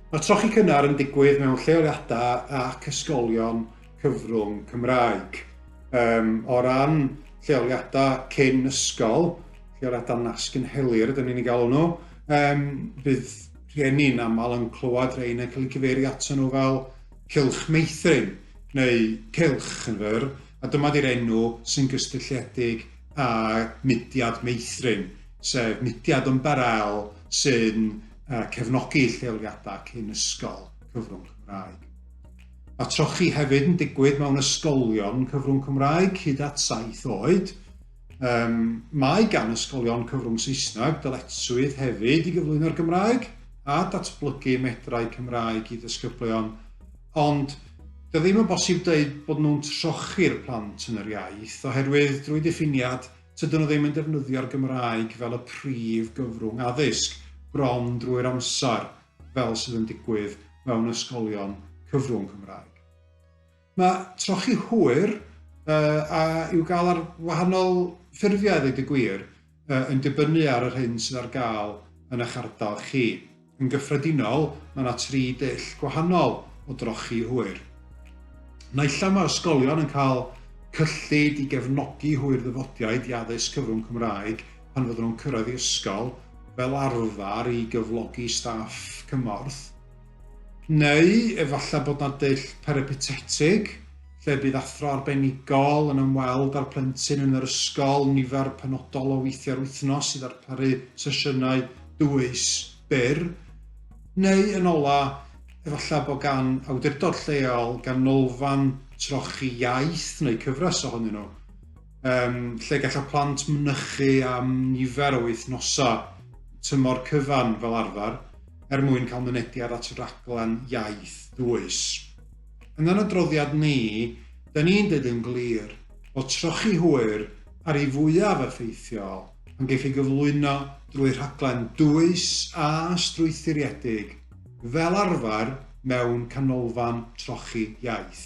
Mae trochi cynnar yn digwydd mewn lleoliadau ac ysgolion cyfrwng Cymraeg. Um, o ran lleoliadau cyn ysgol, lleoliadau nasg yn helir, dyn ni'n ei galw nhw, um, bydd rhieni'n aml yn clywed rhain yn cael eu cyfeirio ato nhw fel cilch meithrin neu cilch yn fyr, a dyma 'di'r enw sy'n gysylltiedig â mudiad Meithrin, sef mudiad yn Barel sy'n uh, cefnogi lleoliadau cyn ysgol cyfrwng Cymraeg. Mae trochi hefyd yn digwydd mewn ysgolion cyfrwng Cymraeg hyd at saith oed. Um, mae gan ysgolion cyfrwng Saesneg dyletswydd hefyd i gyflwyno'r Gymraeg a datblygu medrau Cymraeg i ddysgyblion, ond Dydy o ddim yn bosib dweud bod nhw'n trochi'r plant yn yr iaith, oherwydd drwy ddiffiniad, tydyn nhw ddim yn defnyddio'r Gymraeg fel y prif gyfrwng addysg, bron drwy'r amser, fel sydd yn digwydd mewn ysgolion cyfrwng Cymraeg. Mae trochi hwyr uh, a i'w gael ar wahanol ffurfiau, ddweud y gwir, uh, yn dibynnu ar yr hyn sydd ar gael yn eich ardal chi. Yn gyffredinol, mae yna tri dull gwahanol o drochi hwyr. Naill am mae ysgolion yn cael cyllid i gefnogi hwyr ddyfodiaid i addysg cyfrwng Cymraeg pan fydden nhw'n cyrraedd i ysgol, fel arfer i gyflogi staff cymorth, Neu efallai bod yna dull peripatetig, lle bydd athro arbenigol yn ymweld â'r plentyn yn yr ysgol nifer penodol o weithiau'r wythnos i ddarparu sesiynau dwys byr. Neu, yn ola, efallai bod gan awdurdod lleol ganolfan trochi iaith neu cyfres ohonyn nhw. um, lle gallai plant mynychu am nifer o wythnosau tymor cyfan fel arfer er mwyn cael mynediad at raglen iaith dwys. Yn yr adroddiad ni, da ni'n dweud yn glir bod trochi hwyr ar ei fwyaf effeithiol pan geif ei gyflwyno drwy rhaglen dwys a strwythuriedig fel arfer mewn canolfan trochi iaith.